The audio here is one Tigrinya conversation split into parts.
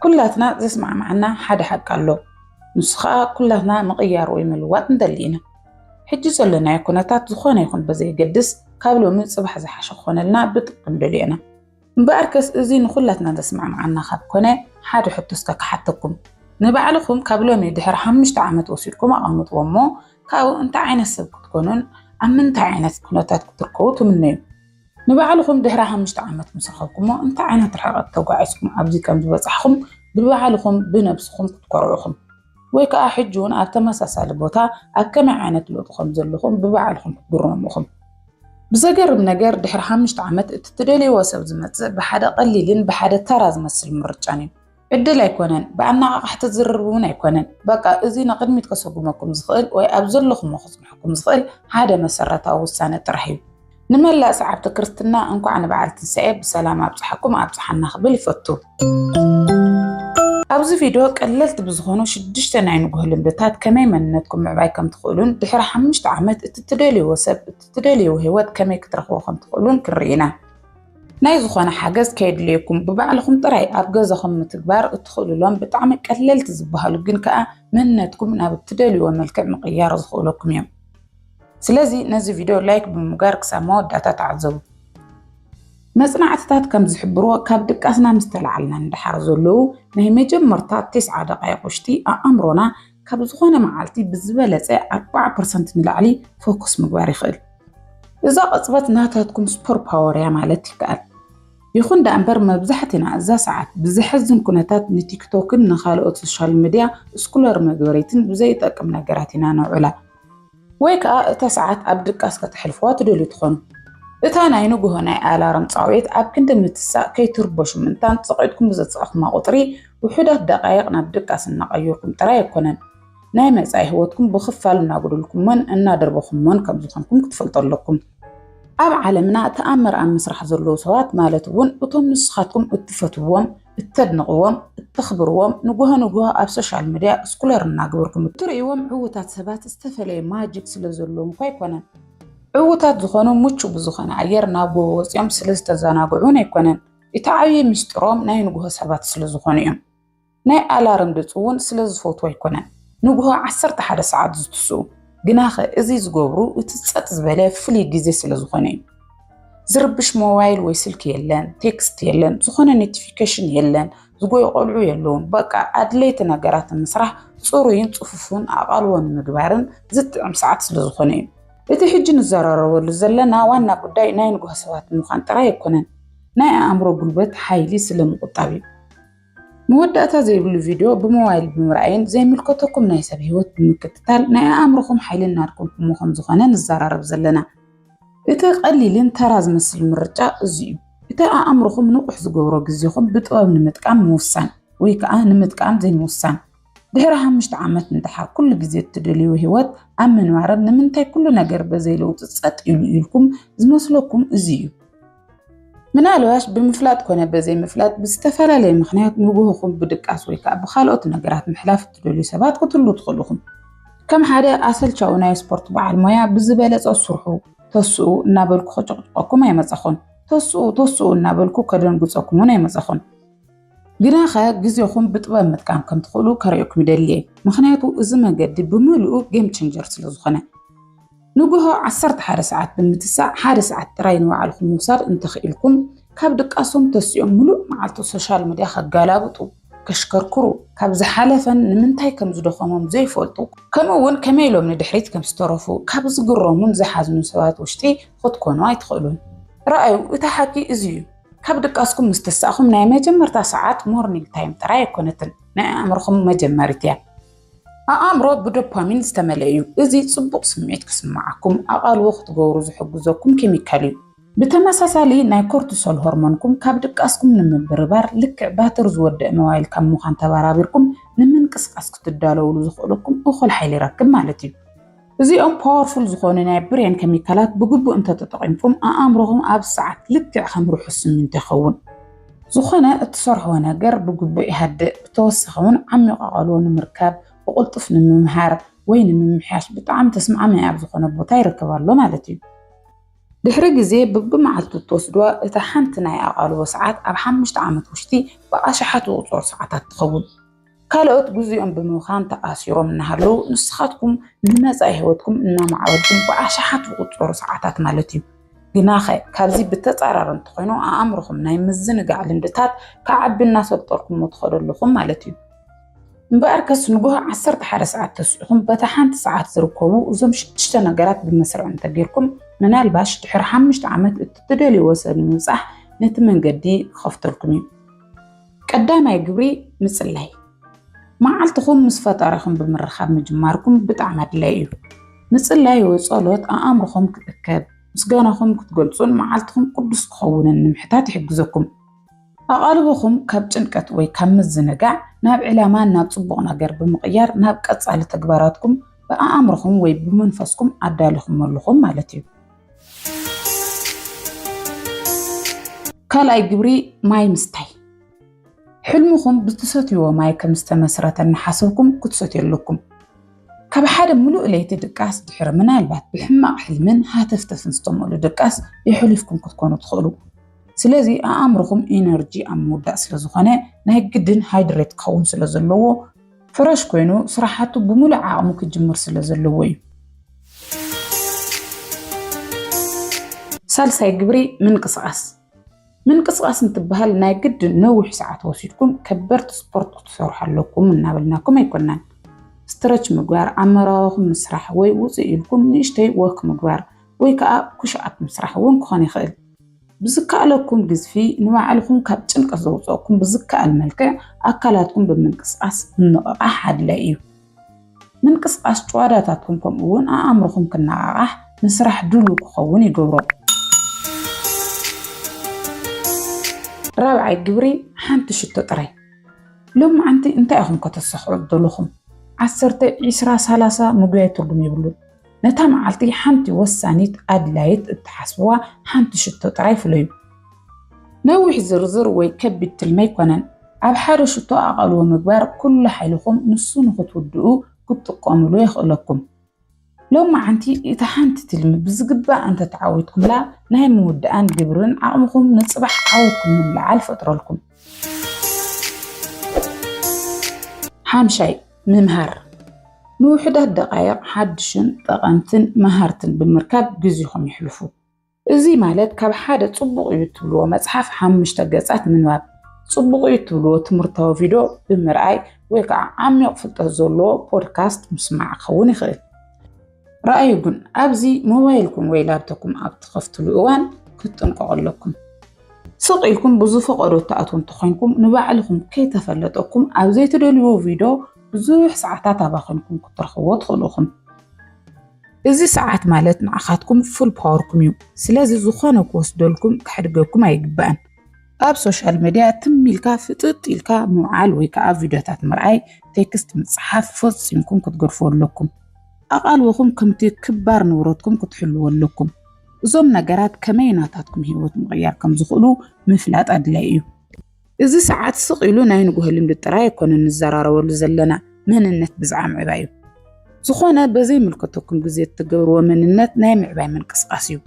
ኩላትና ዘስማዕማዓና ሓደ ሓቂ ኣሎ። ንሱ ከዓ ኩላትና ምቕያር ወይ ምልዋጥ ንደሊ ኢና። ሕጂ ዘለናዮ ኩነታት ዝኾነ ይኹን በዘየገድስ ካብ ሎሚ ጽባሕ ዝሓሸ ክኾነልና ብጥብቂ ንደልዮ ኢና። እምበኣርከስ እዚ ንኹላትና ዘስማዕማዓና ካብ ኮነ ሓደ ሕቶ እስከ ክሓተኩም። ንባዕልኹም ካብ ሎሚ ድሕሪ ሓሙሽተ ዓመት ወሲድኩም ኣቐምጥዎ እሞ ካብኡ እንታይ ዓይነት ሰብ ክትኮኑን ኣብ ምንታይ ዓይነት ኩነታት ክትርከቡ ትምነዩ? ንባዕልኹም ድሕሪ ሓሙሽተ ዓመት ምስ ረኸብኩሞ እንታይ ዓይነት ርሕቐት ተጓዒዝኩም ኣብዚ ከም ዝበጻሕኹም ብባዕልኹም ብነብስኹም ክትኮርዑ ኢኹም። ወይ ከኣ ሕጂ እውን ኣብ ተመሳሳሊ ቦታ ኣብ ከመይ ዓይነት ለውጢ ከም ዘለኹም ብባዕልኹም ክትግረሙ ኢኹም። ብዘገርም ነገር ድሕሪ ሓሙሽተ ዓመት እቲ ትደልይዎ ሰብ ዝመጽእ ብሓደ ቀሊልን ብሓደ ተራ ዝመስል ምርጫን እዩ። ዕድል ኣይኮነን ብኣነቓቓሕቲ ዝርርብ እውን ኣይኮነን። በቃ እዚ ንቕድሚት ከሰጉመኩም ዝኽእል ወይ ኣብ ዘለኹሞ ክጽንሐኩም ዝኽእል ሓደ መሰረታዊ ውሳነ ጥራሕ እዩ። ንመላእ ሰዓብቲ ክርስትና እንኳዕ ንበዓል ትንሳኤ ብሰላም ኣብጽሓኩም ኣብጽሓና ክብል ይፈቱ። ኣብዚ ቪድዮ ቀለልቲ ብዝኾኑ ሽዱሽተ ናይ ንጉሆ ልምድታት ከመይ መንነትኩም ምዕባይ ከም ትኽእሉን ድሕሪ ሓሙሽተ ዓመት እቲ ትደልይዎ ሰብ እቲ ትደልይዎ ህይወት ከመይ ክትረኽቦ ከም ትኽእሉን ክንርኢ ኢና። ናይ ዝኾነ ሓገዝ ከየድልየኩም ብባዕልኹም ጥራይ ኣብ ገዛኹም ምትግባር እትኽእሉሎም ብጣዕሚ ቀለልቲ ዝበሃሉ ግን ከዓ መንነትኩም ናብ እትደልዩዎ መልክዕ ምቕያር ዝኽእለኩም እዮም። ስለዚ ነዚ ቪድዮ ላይክ ብምጋር ክሳብ መወዳእታ ተዓዘቡ። መጽናዕትታት ከም ዝሕብርዎ ካብ ድቃስና ምስ ተላዓልና ንደሓር ዘለዉ ናይ መጀመርታ ቴስዓ ደቓይቕ ውሽጢ ኣእምሮና ካብ ዝኾነ መዓልቲ ብዝበለጸ ኣርብዓ ፐርሰንት ንላዕሊ ፎኩስ ምግባር ይኽእል። እዛ ቅጽበት ናታትኩም ስፖር ፓወር እያ ማለት ይከኣል። ይኹን ደኣ እምበር መብዛሕትና እዛ ሰዓት ብዘሕዝን ኩነታት ንቲክቶክን ንኻልኦት ሶሻል ሚድያ ስኩለር መግበሪትን ብዘይጠቅም ነገራት ኢና ነውዕላ። ወይ ከኣ እታ ሰዓት ኣብ ድቃስ ከተሕልፍዋ ትደልዩ ትኾኑ። እታ ናይ ንግሆ ናይ ኣላርም ጻውዒት ኣብ ክንዲ ምትሳእ ከይትርበሹ ምእንታን ጸቂጥኩም ብዘጻእኩማ ቁጽሪ ውሑዳት ደቃይቕ ናብ ድቃስ እናቐየርኩም ጥራይ ኣይኮነን ናይ መጻኢ ህይወትኩም ብኽፋል እናጉድልኩሞን እናደርበኹሞን ከም ዝኾንኩም ክትፈልጡ ኣለኩም። ኣብ ዓለምና ተኣምር ኣብ ምስራሕ ዘለዉ ሰባት ማለት እውን እቶም ንስኻትኩም እትፈትውዎም፣ እተድንቕዎም፣ እተኽብርዎም ንጉሆ ንጉሆ ኣብ ሶሻል ሚድያ እስኩለር እናግበርኩም እትርእይዎም ዕውታት ሰባት ዝተፈለየ ማጂክ ስለ ዘለዎም እኳ ኣይኮነን። ዕውታት ዝኾኑ ምቹው ብዝኾነ ኣየር ናብ ጎቦ ወጺኦም ስለ ዝተዘናግዑ እውን ኣይኮነን። እቲ ዓብዪ ምስጢሮም ናይ ንጉሆ ሰባት ስለ ዝኾኑ እዮም። ናይ ኣላርም ድጽ እውን ስለ ዝፈትዉ ኣይኮነን ንግሆ ዓሰርተ ሓደ ሰዓት ዝትስኡ። ግናኸ እዚ ዝገብሩ እቲ ጸጥ ዝበለ ፍሉይ ግዜ ስለ ዝኾነ እዩ። ዝርብሽ ሞባይል ወይ ስልኪ የለን፣ ቴክስት የለን፣ ዝኾነ ኖቲፊኬሽን የለን፣ ዝጎዩ ቆልዑ የለውን። በቃ ኣድለይቲ ነገራት ንምስራሕ ጽሩይን ጽፉፍን ኣቓልቦ ንምግባርን ዝጥዕም ሰዓት ስለ ዝኾነ እዩ። እቲ ሕጂ ንዘራረበሉ ዘለና ዋና ጉዳይ ናይ ንግሆ ሰባት ምዃን ጥራይ ኣይኮነን፣ ናይ ኣእምሮ ጉልበት፣ ሓይሊ፣ ስለ ምቑጣብ እዩ። መወዳእታ ዘይብሉ ቪድዮ ብሞባይል ብምርኣይን ዘይምልከተኩም ናይ ሰብ ህይወት ብምክትታል ናይ ኣእምሮኹም ሓይሊ እናድከምኩሞ ከም ዝኾነ ንዘራረብ ዘለና እቲ ቀሊልን ተራ ዝመስል ምርጫ እዚ እዩ። እቲ ኣእምሮኹም ንቑሕ ዝገብሮ ግዜኹም ብጥበብ ንምጥቃም ምውሳን ወይ ከዓ ንምጥቃም ዘይምውሳን ድሕሪ ሓሙሽተ ዓመት እንተሓ ኩሉ ግዜ እትደልዩ ህይወት ኣብ ምንባርን ንምንታይ ኩሉ ነገር በዘይ ለውጢ ጸጥ ኢሉ ኢልኩም ዝመስለኩም እዚ እዩ። ምናልባሽ ብምፍላጥ ኮነ በዘይ ምፍላጥ ብዝተፈላለየ ምክንያት ንግሆኹም ብድቃስ ወይ ከዓ ብካልኦት ነገራት ምሕላፍ እትደልዩ ሰባት ክትህሉ ትኽእሉ ኢኹም። ከም ሓደ ኣሰልቻዊ ናይ ስፖርት በዓል ሞያ ብዝበለጸ ስርሑ ተስኡ እናበልኩ ከጨቕጭቐኩም ኣይመጸኹን። ተስኡ ተስኡ እናበልኩ ከደንግጸኩም እውን ኣይመጸኹን። ግናኸ ግዜኹም ብጥበብ ምጥቃም ከም ትኽእሉ ከርእየኩም ይደሊ እየ፣ ምኽንያቱ እዚ መገዲ ብምልኡ ጌም ቼንጀር ስለ ዝኾነ። ንግሆ ዓሰርተ ሓደ ሰዓት ብምትሳእ ሓደ ሰዓት ጥራይ ንባዕልኹም ምውሳድ እንተኽኢልኩም፣ ካብ ድቃሶም ተሲኦም ምሉእ መዓልቲ ሶሻል ሚድያ ከጋላብጡ፣ ከሽከርክሩ፣ ካብ ዝሓለፈን ንምንታይ ከም ዝደኸሞም ዘይፈልጡ፣ ከምኡ'ውን ከመይ ኢሎም ንድሕሪት ከም ዝተረፉ ካብ ዝግረሙን ዝሓዝኑን ሰባት ውሽጢ ኽትኮኑ ኣይትኽእሉን። ርኣዩ፣ እቲ ሓቂ እዚ እዩ። ካብ ድቃስኩም ምስ ተሳእኹም ናይ መጀመርታ ሰዓት ሞርኒንግ ታይም ጥራይ ኣይኮነትን፣ ናይ ኣእምሮኹም መጀመሪት እያ። ኣእምሮ ብዶፓሚን ዝተመልአ እዩ፣ እዚ ጽቡቕ ስምዒት ክስምዓኩም ኣቓልቦ ክትገብሩ ዝሕግዘኩም ኬሚካል እዩ። ብተመሳሳሊ ናይ ኮርቲሶል ሆርሞንኩም ካብ ድቃስኩም ንምብርባር ልክዕ ባትሪ ዝወደእ ሞባይል ካብ ምዃን ተበራቢርኩም ንምንቅስቓስ ክትዳለዉሉ ዘኽእለኩም እኹል ሓይሊ ይረክብ ማለት እዩ። እዚኦም ፓወርፉል ዝኾኑ ናይ ብሬን ከሚካላት ብግቡእ እንተተጠቒምኩም ኣኣምሮኹም ኣብ ሰዓት ልክዕ ከም ርሑስ ስሚንቶ ይኸውን። ዝኾነ እትሰርሕዎ ነገር ብግቡእ ይሃድእ፣ ብተወሳኺ እውን ዓሚቕ ኣቓልቦ ንምርካብ፣ ብቕልጡፍ ንምምሃር ወይ ንምምሕያሽ ብጣዕሚ ተስማዕማዒ ኣብ ዝኾነ ቦታ ይርከብ ኣሎ ማለት እዩ። ድሕሪ ግዜ ብብመዓልቱ እትወስድዋ እታ ሓንቲ ናይ ኣቓልቦ ሰዓት ኣብ ሓሙሽተ ዓመት ውሽጢ ብኣሽሓት ዝቑጸሩ ሰዓታት ትኸውን። ካልኦት ግዚኦም ብምብኻን ተኣሲሮም እናሃለዉ ንስኻትኩም ንመፃኢ ህይወትኩም እናማዕበልኩም ብኣሽሓት ዝቑፀሩ ሰዓታት ማለት እዩ። ግናኸ ካብዚ ብተፃራሪ እንተኾይኑ ኣእምሮኹም ናይ ምዝንጋዕ ልምድታት ክዓቢ እናሰልጠርኩሞ ትኸዱ ኣለኹም ማለት እዩ። እምበኣር ከስ ንጉሆ ዓሰርተ ሓደ ሰዓት ተስዒኹም በታ ሓንቲ ሰዓት ዝርከቡ እዞም ሽዱሽተ ነገራት ብመስርዕ እንተጌርኩም ምናልባሽ ድሕሪ ሓሙሽተ ዓመት እቲ ትደልይዎ ሰብ ንምብፃሕ ነቲ መንገዲ ክኸፍተልኩም እዩ። ቀዳማይ ግብሪ ምጽላይ። መዓልትኹም ምስ ፈጣሪኹም ብምርኻብ ምጅማርኩም ብጣዕሚ ኣድላይ እዩ። ምጽላይ ወይ ጸሎት ኣእምሮኹም ክእከብ፣ ምስጋናኹም ክትገልጹን መዓልትኹም ቅዱስ ክኸውንን ንምሕታት ይሕግዘኩም። ኣቓልቦኹም ካብ ጭንቀት ወይ ካብ ምዝንጋዕ ናብ ዕላማን ናብ ጽቡቕ ነገር ብምቕያር ናብ ቀጻሊ ተግባራትኩም ብኣእምሮኹም ወይ ብመንፈስኩም ኣዳሊኹም ኣለኹም ማለት እዩ። ካልኣይ ግብሪ ማይ ምስታይ ሕልምኹም ብትሰትይዎ ማይ ከም ዝተመስረተ እናሓሰብኩም ክትሰትዩ ኣለኩም። ካብ ሓደ ምሉእ ለይቲ ድቃስ ድሕሪ ምናልባት ብሕማቕ ሕልምን ሃተፍተፍን ዝተመሉ ድቃስ የሕሊፍኩም ክትኮኑ ትኽእሉ። ስለዚ ኣእምርኹም ኢነርጂ ኣብ ምውዳእ ስለ ዝኾነ ናይ ግድን ሃይድሬት ክኸውን ስለ ዘለዎ ፍረሽ ኮይኑ ስራሓቱ ብሙሉእ ዓቕሙ ክጅምር ስለ ዘለዎ እዩ። ሳልሳይ ግብሪ ምንቅስቓስ ምንቅስቓስ እንትበሃል ናይ ግድን ነዊሕ ሰዓት ወሲድኩም ከበድቲ ስፖርት ክትሰርሑ ኣለኩም እናበልናኩም ኣይኮናን። ስትረች ምግባር፣ ኣመራዋኹም ምስራሕ ወይ ውፅእ ኢልኩም ንእሽተይ ወክ ምግባር ወይ ከዓ ኩሽኣፕ ምስራሕ እውን ክኾን ይኽእል። ብዝከኣለኩም ግዝፊ ንባዕልኹም ካብ ጭንቀት ዘውፀእኩም ብዝከኣል መልክዕ ኣካላትኩም ብምንቅስቃስ ምንቕቓሕ ኣድላይ እዩ። ምንቅስቃስ ጭዋዳታትኩም ከምኡ እውን ኣእምሮኹም ክነቓቓሕ ንስራሕ ድሉው ክኸውን ይገብሮ። ራብዓይ ግብሪ ሓንቲ ሽቶ ጥራይ ሎም መዓንቲ እንታይ ኢኹም ከተሳኽዑ ዘለኹም ዓሰርተ ዒስራ ሳላሳ ምጉያይ ትርጉም የብሉን። ነታ መዓልቲ ሓንቲ ወሳኒት ኣድላይት እትሓስብዋ ሓንቲ ሽቶ ጥራይ ፍለዩ። ነዊሕ ዝርዝር ወይ ከቢድ ትልሚ ኣይኮነን። ኣብ ሓደ ሽቶ ኣቓልቦ ምግባር ኩሉ ሓይልኹም ንሱ ንኽትውድኡ ክትጥቀሙሉ የኽእለኩም። ሎማዓንቲ እታ ሓንቲ ትልሚ ብዝግባእ እንተተዓዊትኩምላ ናይ ምውዳኣን ግብርን ዓቕምኹም ንጽባሕ ዓወትኩም ንምልዓል ፈጥረልኩም። ሓምሻይ፣ ምምሃር። ንውሑዳት ደቓይቕ ሓድሽን ጠቐምትን መሃርትን ብምርካብ ግዜኹም የሕልፉ። እዚ ማለት ካብ ሓደ ጽቡቕ እዩ እትብልዎ መጽሓፍ ሓሙሽተ ገጻት ምንባብ፣ ጽቡቕ እዩ እትብልዎ ትምህርታዊ ቪድዮ ብምርኣይ ወይ ከዓ ዓሚቕ ፍልጠት ዘለዎ ፖድካስት ምስማዕ ክኸውን ይኽእል። ረኣዩ ግን ኣብዚ ሞባይልኩም ወይ ላፕቶፕኩም ኣብ ትኸፍትሉ እዋን ክትጥንቀቑ ኣለኩም። ስቕ ኢልኩም ብዝፈቐዶ እትኣትዉ እንተኾይንኩም ንባዕልኹም ከይተፈለጠኩም ኣብ ዘይትደልዩዎ ቪድዮ ብዙሕ ሰዓታት ኣባኺንኩም ክትረኽብዎ ትኽእሉ ኢኹም። እዚ ሰዓት ማለት ንዓኻትኩም ፉል ፓወርኩም እዩ። ስለዚ ዝኾነ ክወስደልኩም ከሕድገኩም ኣይግባእን። ኣብ ሶሻል ሚድያ ትም ኢልካ ፍጥጥ ኢልካ ምውዓል ወይ ከዓ ቪድዮታት ምርኣይ፣ ቴክስት ምፅሓፍ ፈፂምኩም ክትገድፉ ኣለኩም። ኣቓልቦኹም ከምቲ ክባር ንብረትኩም ክትሕልዎ ኣለኩም። እዞም ነገራት ከመይ ናታትኩም ህይወት ምቕያር ከም ዝኽእሉ ምፍላጥ ኣድላይ እዩ። እዚ ሰዓት ስቕ ኢሉ ናይ ንግሆ ልምዲ ጥራይ ኣይኮነን ንዘራረበሉ ዘለና፣ መንነት ብዝዓ ምዕባይ እዩ። ዝኾነ በዘይምልከተኩም ግዜ እትገብርዎ መንነት ናይ ምዕባይ ምንቅስቓስ እዩ።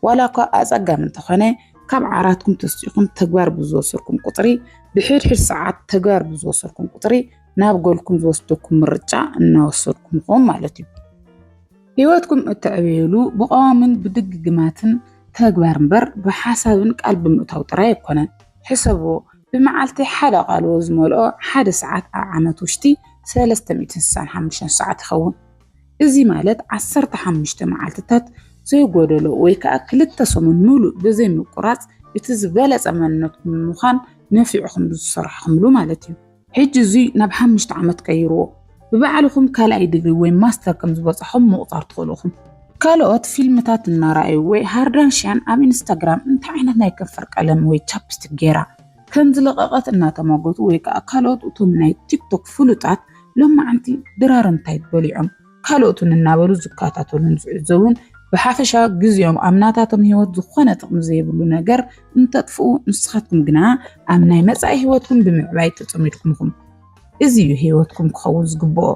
ዋላ እኳ ኣጸጋሚ እንተኾነ፣ ካብ ዓራትኩም ተስኢኹም ተግባር ብዝወሰድኩም ቁጽሪ፣ ብሕድሕድ ሰዓት ተግባር ብዝወሰድኩም ቁጽሪ ናብ ጎልኩም ዝወስደኩም ምርጫ እናወሰድኩም ኢኹም ማለት እዩ። ህይወትኩም እተዕብዩሉ ብቐዋምን ብድግግማትን ተግባር እምበር ብሓሳብን ቃል ብምእታው ጥራይ ኣይኮነን። ሕሰብዎ፣ ብመዓልቲ ሓደ ቃልዎ ዝመልኦ ሓደ ሰዓት ኣብ ዓመት ውሽጢ ሰለስተ ሚእትን ስሳን ሓሙሽተን ሰዓት ይኸውን። እዚ ማለት ዓሰርተ ሓሙሽተ መዓልትታት ዘይጎደሎ ወይ ከዓ ክልተ ሰሙን ሙሉእ ብዘይምቁራፅ እቲ ዝበለፀ መንነትኩም ንምዃን ነፊዕኹም ዝሰርሕኹምሉ ማለት እዩ። ሕጂ እዙይ ናብ ሓሙሽተ ዓመት ቀይርዎ። ብባዕልኹም ካልኣይ ዲግሪ ወይ ማስተር ከም ዝበፃኹም ምቑፃር ትኽእሉ ኢኹም። ካልኦት ፊልምታት እናረኣዩ ወይ ሃርዳንሽያን ኣብ ኢንስታግራም እንታይ ዓይነት ናይ ከንፈር ቀለም ወይ ቻፕስቲክ ገይራ፣ ከምዝለቐቐት እናተሟገቱ ወይ ከዓ ካልኦት እቶም ናይ ቲክቶክ ፍሉጣት ሎማዓንቲ ድራር እንታይ በሊዖም ካልኦትን እናበሉ ዝከታተሉን ዝዕዘቡን ብሓፈሻ ግዜኦም ኣብ ናታቶም ህይወት ዝኾነ ጥቕሚ ዘይብሉ ነገር እንተጥፍኡ ንስኻትኩም ግና ኣብ ናይ መጻኢ ህይወትኩም ብምዕባይ ተጸሚድኩም ኢኹም። እዚ እዩ ህይወትኩም ክኸውን ዝግብኦ።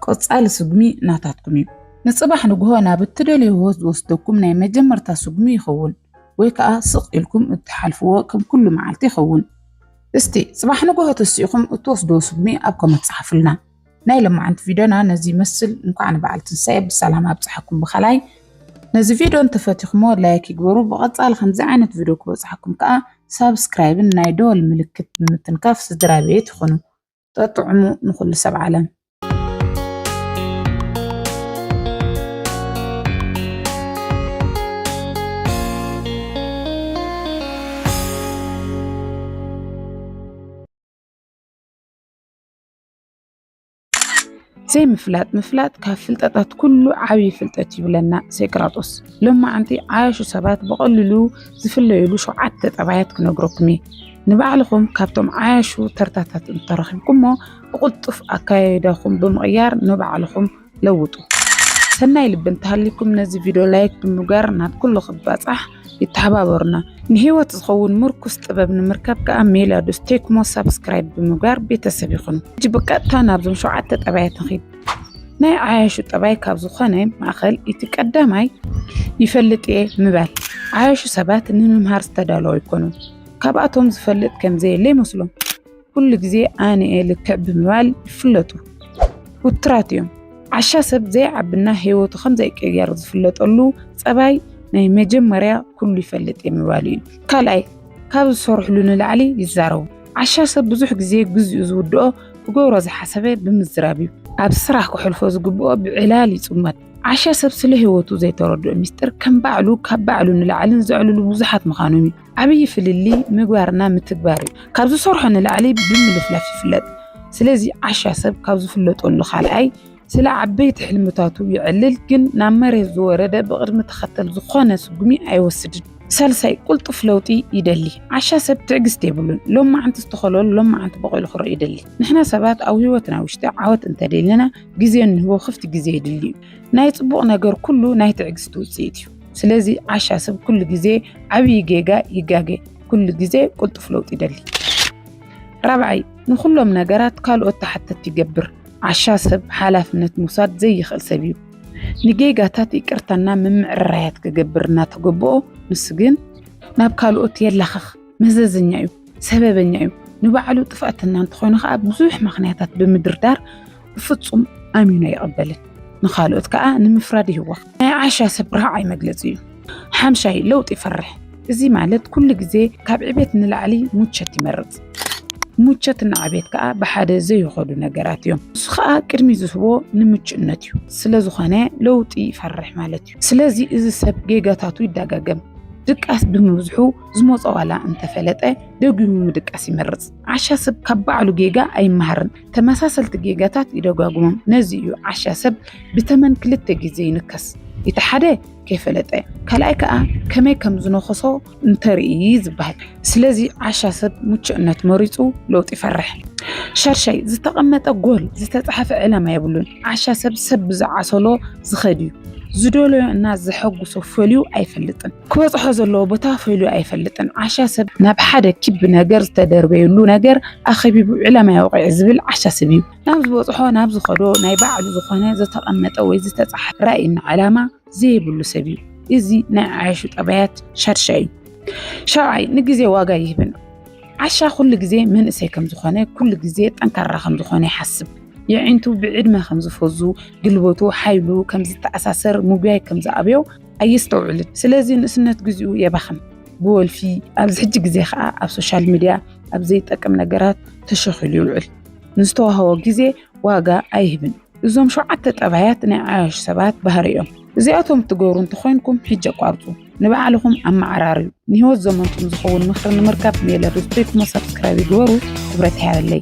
ቀጻሊ ስጉሚ ናታትኩም እዩ። ንጽባሕ ንግሆ ናብ እትደልዮ ህይወት ዝወስደኩም ናይ መጀመርታ ስጉሚ ይኸውን። ወይ ከኣ ስቕ ኢልኩም እትሓልፍዎ ከም ኩሉ መዓልቲ ይኸውን። እስቲ ጽባሕ ንግሆ ተሲእኹም እትወስዶ ስጉሚ ኣብ ኮመት ጸሓፉልና። ናይ ለማዓንቲ ቪድዮና ነዚ ይመስል እንኳዕ ንበዓል ትንሳኤ ብሰላም ኣብጽሓኩም ብኻላይ ነዚ ቪድዮ እንተፈቲኹሞ ላይክ ይግበሩ ብቐጻሊ ከምዚ ዓይነት ቪድዮ ክበጽሓኩም ከኣ ሳብስክራይብን ናይ ደወል ምልክት ብምትንካፍ ስድራ ቤት ይኹኑ። ጠጥዑሙ ንኹሉ ሰብ ዓለም። ዘይምፍላጥ ምፍላጥ ካብ ፍልጠታት ኩሉ ዓብዪ ፍልጠት ይብለና ሴቅራጦስ። ሎማዓንቲ ዓያሹ ሰባት ብቐሊሉ ዝፍለዩሉ ሸውዓተ ጠባያት ክነግረኩም እየ። ንባዕልኹም ካብቶም ዓያሹ ተርታታት እንተረኺብኩሞ ብቕልጡፍ ኣካያይዳኹም ብምቕያር ንባዕልኹም ለውጡ። ሰናይ ልቢ እንተሃሊኩም ነዚ ቪድዮ ላይክ ብምግባር ናብ ኩሉ ክባፃሕ ይተሓባበሩና። ንህይወት ዝኸውን ምርኩስ ጥበብ ንምርካብ ከኣ ሜላዱስ ቴክሞ ሳብስክራይብ ብምግባር ቤተሰብ ይኹኑ። ሕጂ ብቀጥታ ናብዞም ሸውዓተ ጠባያት ንኺድ። ናይ ዓያሹ ጠባይ ካብ ዝኾነ ማእኸል እቲ ቀዳማይ ይፈልጥ እየ ምባል። ዓያሹ ሰባት ንምምሃር ዝተዳለዉ ኣይኮኑን። ካብኣቶም ዝፈልጥ ከምዘየለ ይመስሎም። ኩሉ ግዜ ኣነ እየ ልክዕ ብምባል ይፍለጡ። ውትራት እዮም። ዓሻ ሰብ ዘይዓብና ህይወቱ ከም ዘይቀየር ዝፍለጠሉ ጸባይ ናይ መጀመርያ ኩሉ ይፈልጥ እየ ምባሉ እዩ። ካልኣይ ካብ ዝሰርሕሉ ንላዕሊ ይዛረቡ። ዓሻ ሰብ ብዙሕ ግዜ ግዜኡ ዝውድኦ ክገብሮ ዝሓሰበ ብምዝራብ እዩ። ኣብ ስራሕ ክሕልፎ ዝግብኦ ብዕላል ይጽመድ። ዓሻ ሰብ ስለ ህይወቱ ዘይተረድኦ ሚስጢር ከም ባዕሉ ካብ ባዕሉ ንላዕልን ዘዕልሉ ብዙሓት ምዃኖም እዩ። ዓብዪ ፍልልይ ምግባርና ምትግባር እዩ። ካብ ዝሰርሖ ንላዕሊ ብምልፍላፍ ይፍለጥ። ስለዚ ዓሻ ሰብ ካብ ዝፍለጠሉ ካልኣይ ስለ ዓበይቲ ሕልምታቱ ይዕልል፣ ግን ናብ መሬት ዝወረደ ብቕድሚ ተኸተል ዝኾነ ስጉሚ ኣይወስድን። ሳልሳይ ቁልጡፍ ለውጢ ይደሊ። ዓሻ ሰብ ትዕግስቲ የብሉን። ሎም መዓንቲ ዝተኸለሉ ሎም መዓንቲ በቂሉ ክርኢ ይደሊ። ንሕና ሰባት ኣብ ህይወትና ውሽጢ ዓወት እንተደሊና ግዜ ንህቦ ክፍት ግዜ የድሊ እዩ። ናይ ፅቡቕ ነገር ኩሉ ናይ ትዕግስቲ ውፅኢት እዩ። ስለዚ ዓሻ ሰብ ኩሉ ግዜ ዓብዪ ጌጋ ይጋገ፣ ኩሉ ግዜ ቅልጡፍ ለውጢ ይደሊ። ራብዓይ ንኹሎም ነገራት ካልኦት ተሓተቲ ይገብር። ዓሻ ሰብ ሓላፍነት ምውሳድ ዘይኽእል ሰብ እዩ። ንጌጋታት ይቅርታና ምምዕርራያት ክገብር እናተገብኦ ንሱ ግን ናብ ካልኦት የላኽኽ። መዘዘኛ እዩ፣ ሰበበኛ እዩ፣ ንባዕሉ ጥፍኣትና እንተኾነ ከዓ ብዙሕ ምክንያታት ብምድርዳር ብፍፁም ኣሚኑ ኣይቕበልን። ንካልኦት ከዓ ንምፍራድ ይህወኽ። ናይ ዓሻ ሰብ ራዕይ መግለፂ እዩ። ሓምሻይ ለውጢ ይፈርሕ። እዚ ማለት ኩሉ ግዜ ካብ ዕቤት ንላዕሊ ሙቸት ይመርፅ። ሙቸት እና ዕቤት ከዓ ብሓደ ዘይኸዱ ነገራት እዮም። እሱ ከዓ ቅድሚ ዝህቦ ንምቹእነት እዩ። ስለዝኾነ ለውጢ ይፈርሕ ማለት እዩ። ስለዚ እዚ ሰብ ጌጋታቱ ይደጋገም። ድቃስ ብምብዝሑ ዝመፆ ዋላ እንተፈለጠ ደጊሙ ምድቃስ ይመርፅ። ዓሻ ሰብ ካብ ባዕሉ ጌጋ ኣይመሃርን፣ ተመሳሰልቲ ጌጋታት ይደጋግሞም። ነዚ እዩ ዓሻ ሰብ ብተመን ክልተ ግዜ ይንከስ፣ እቲ ሓደ ከይፈለጠ ካልኣይ ከዓ ከመይ ከም ዝነኸሶ እንተርኢ ዝበሃል። ስለዚ ዓሻ ሰብ ምቹእነት መሪፁ ለውጢ ይፈርሕ። ሻድሻይ ዝተቐመጠ ጎል ዝተፃሓፈ ዕላማ የብሉን። ዓሻ ሰብ ሰብ ብዝዓሰሎ ዝኸድ እዩ። ዝደለዮ እና ዘሐጉሶ ፈልዩ ኣይፈልጥን። ክበጽሖ ዘለዎ ቦታ ፈልዩ ኣይፈልጥን። ዓሻ ሰብ ናብ ሓደ ኪቢ ነገር ዝተደርበየሉ ነገር ኣኸቢቡ ዕላማ የውቕዕ ዝብል ዓሻ ሰብ እዩ። ናብ ዝበጽሖ ናብ ዝኸዶ ናይ ባዕሉ ዝኾነ ዝተቐመጠ ወይ ዝተጻሕፈ ራእይና ዕላማ ዘይብሉ ሰብ እዩ። እዚ ናይ ዓያሹ ጠባያት ሻድሻይ እዩ። ሻብዓይ ንግዜ ዋጋ ይህብን ዓሻ ኩሉ ግዜ መንእሰይ ከም ዝኾነ ኩሉ ግዜ ጠንካራ ከም ዝኾነ ይሓስብ የዒንቱ ብዕድመ ከም ዝፈዙ ግልበቱ ሓይሉ ከም ዝተኣሳሰር ምጉያይ ከም ዝኣብዮ ኣየስተውዕልን። ስለዚ ንእስነት ግዚኡ የባኽን ብወልፊ ኣብዚ ሕጂ ግዜ ከዓ ኣብ ሶሻል ሚድያ ኣብ ዘይጠቅም ነገራት ተሸኺሉ ይውዕል። ንዝተዋህቦ ግዜ ዋጋ ኣይህብን። እዞም ሸውዓተ ጠባያት ናይ ዓያሹ ሰባት ባህሪ እዮም። እዚኣቶም እትገብሩ እንተኾይንኩም ሕጂ ኣቋርፁ፣ ንባዕልኹም ኣመዓራርዩ። ንህይወት ዘመንኩም ዝኸውን ምኽሪ ንምርካብ ሜለ ሪትሪት እሞ ሳብስክራይብ ይግበሩ። ክብረት ይሃበለይ።